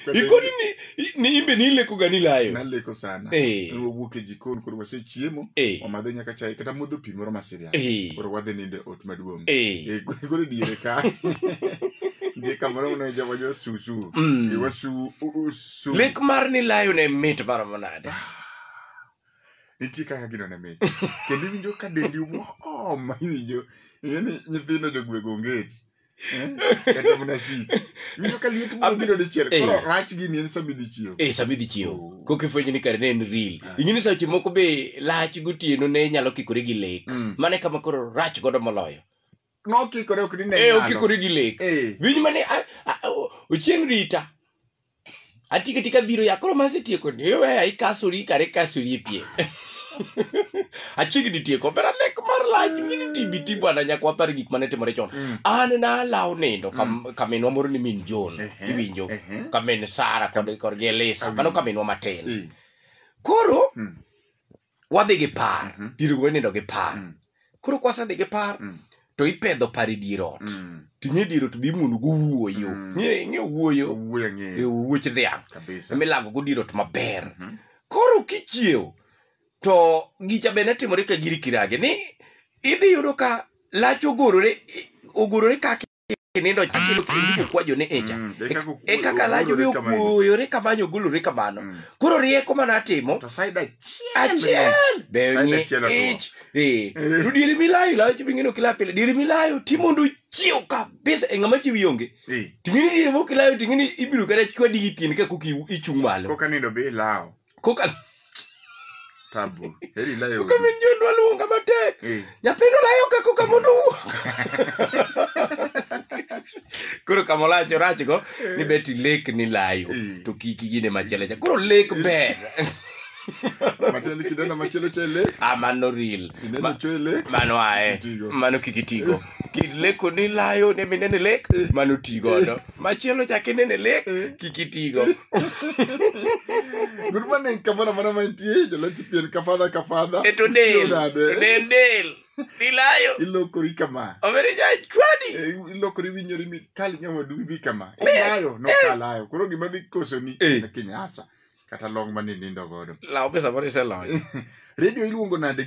Kwanza ikoni ni, ni imbe ni ileko gani layo naleko sana Eh. Ne wawuok e jikon koro wasechiemo Eh. wamadho nyaka chai kata modho pi moro masiria Eh. koro wadhi nindo e ot maduong' Eh. Eh, koro diere ka ndiye kamoro mano joma jo susu Mm. Eh, wasu u- usu lek mar ni layo ne mit maromo nade nitie kaka gino ne mit kendo iwinjo ka dendi wom iwinjo ing'e ni nyithindo jogwego ongeti kata mana sik winjo ka liet biro biro dichiel Eh. koro rach gini en sama idhi chiew e sama idhi chiew Oh. koka ifwenyo ni kare ne en real Ah. ing'e ni seche moko be lach gotieno ne nyalo kikore gi lek Mm. mane kama koro rach godo moloyo nokikore ok ni ne e nyalo. okikore gi lek Eh. winj mane a- a- a- ochieng' rita atikatika biro ya koro masetieko ni iweya ikasori kare kasori e pie achiegni tieko pera lek mar lach mini tibiti bwana nyaka wapar gik mane timore chon Mm. an nalaw nindo kam- kaminwa moro ni min jon Ehe, iwinjo ehe. kamin sara kod kod gi elisa Amin. mano kaminwa matin Eh, koro mm, wadhi gi par Mhm. dier go nindo gi par Mm. koro kwasedhi gi par Mm. to ipedho par e dier ot Mm. tinye dier ot bi muono go wuoyo Mm. ng'e ng'e wuoyo Owuoyo e ng'eyo. wuoch dhiang' Kabisa. milago go dier ot maber Mhm. koro kichiew to gicha bende timore ka giri kirage ni idhi yudo ka lach ogorore ogorore kaki kinindo chakilo kendo kukwajo ne echa Mm, e kaka okwo- e kaka lajo be ogolore kamano. okuoyore kamano ogolore kamano Mm. koro rieko mana atimo To side achiel. achiel be Side onye achiel otwo. ich eh Eh. to diri milayo layo chi bingino kila pile diri milayo ti mondo chiew kabisa e ngama chi wionge Eh, tingini diri mo kilayo tingini ibiro kata chwadi gi pien ka kuki ichung malo Koka nindo be ilawo. kokalo tabu heri layo kaminjo ndwa luonga matek Eh, nyathino layo ka koka mondo owuo koro kama olach orachgo ni beti lek ni layo Eh. to kik igine machielo cha koro lek ber matiende kidenda machielo chele amano ril ineno chele mano ae Tigo. mano kik itigo kit leko ni layo ne minene lek mano ti godo machielo chak inene lek kik itigo Good morning, kamoro amora mantie, joloch pien ka fadha ka fadha. e to del Nade? to del del nilayo Ilokori kama. omere jachwadi Eh, Ilokori winyori mi kali nyawadu wibi kama. Ilayo, no kalayo. Koro gima dhi kosoni Eh. na kinyasa. Kata long mane nindo godo. law be samoro iseloyo Radio iluongo nade